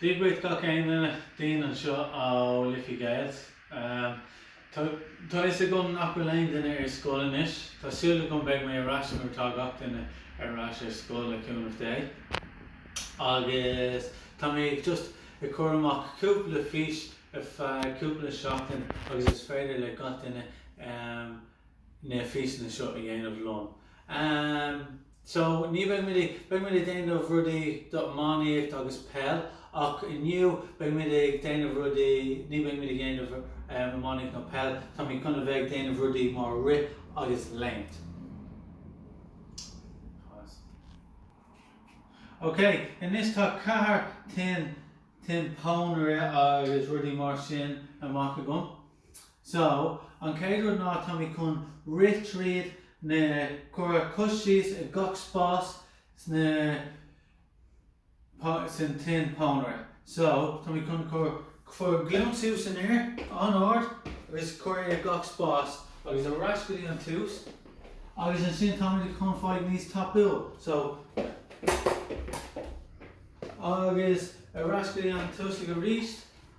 Dia daoibh gach aon duine Dean anseo ó Liffey Gaels. Tá fhios agam nach bhfuil aon duine ar scoil anois. Tá súil agam beidh mé ar ais nuair atá gach duine ar ais ar scoil le cúnamh Dé. Agus tá mé just ag cur amach cúpla fís ar feadh cúpla seachtain agus is féidir le gach duine na físeanna seo a dhéanamh liom. So, ní bheidh muid, beidh muid ag déanamh rudaí do iománaíocht agus peil ach inniu beidh muid ag déanamh rudaí, ní beidh muid ag dhéanamh iománaíocht nó peil, tá muid chun a bheith ag déanamh rudaí mar rith agus léimt. Ok, anois tá ceathair tin, tin pónaire agus rudaí mar sin amach agam. So, an chéad rud ná tá mé chun rith tríd na cur cos síos ag gach spás sna san tin pónaire. So, tá mé chun cur cur glúin suas san aer an-ard agus cur é ag gach spás agus ar ais go dtí an tús agus ansin tá mé chun fáigh níos tapúla. So, agus ar ais go dtí an tús ag arís.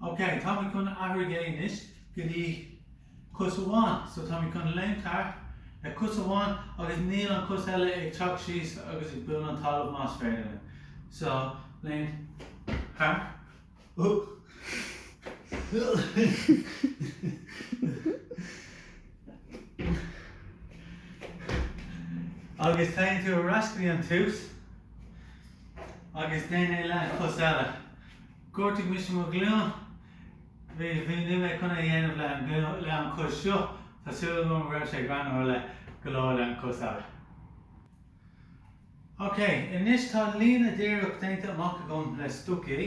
Ok, táimid chun athraigh é anois go dtí cos amháin. So táimid chun léimt thart ar cos amháin agus níl an chos eile ag teacht síos agus ag buail an talamh más féidir. So, léimt thart. Agus téann tú ar ais go dtí an tús agus déan é le an cos eile. Ghortaigh mise mo ghlúin. Bhí bhí níl mé chun é a dhéanamh le an glúin le an cos seo. Tá súil agam go raibh sé greannmhar le go leor le an cos eile. OK, anois tá líne díreach déanta amach agam le stocaí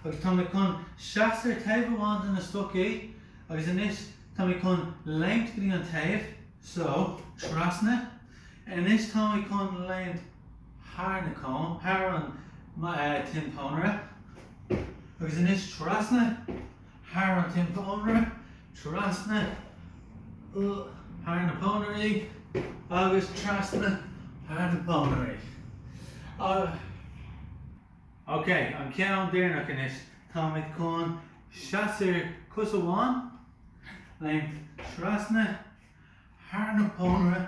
agus tá mé chun seasamh ar taobh amháin de na stocaí agus anois tá mé chun léimt go dtí an taobh so, trasna, anois tá mé chun léimt thar na cóin, thar an, eh, tin pónaire agus anois trasna thar an tin pónaire, trasna thar na pónairí agus trasna thar na pónairí. Ok, an ceann deireanach anois. Táimid chun seasamh ar cos amháin, léimt trasna thar na pónaire,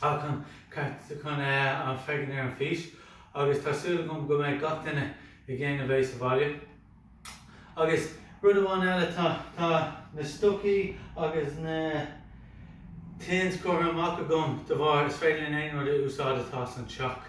Tá an ceart agat chun an féachaint ar an fís agus tá súil agam go mbeidh gach duine ag déanamh é sa bhaile. Agus rud amháin eile atá tá na stocaí agus na tins curtha amach agam de bharr is féidir linn aon rud a úsáid atá san teach.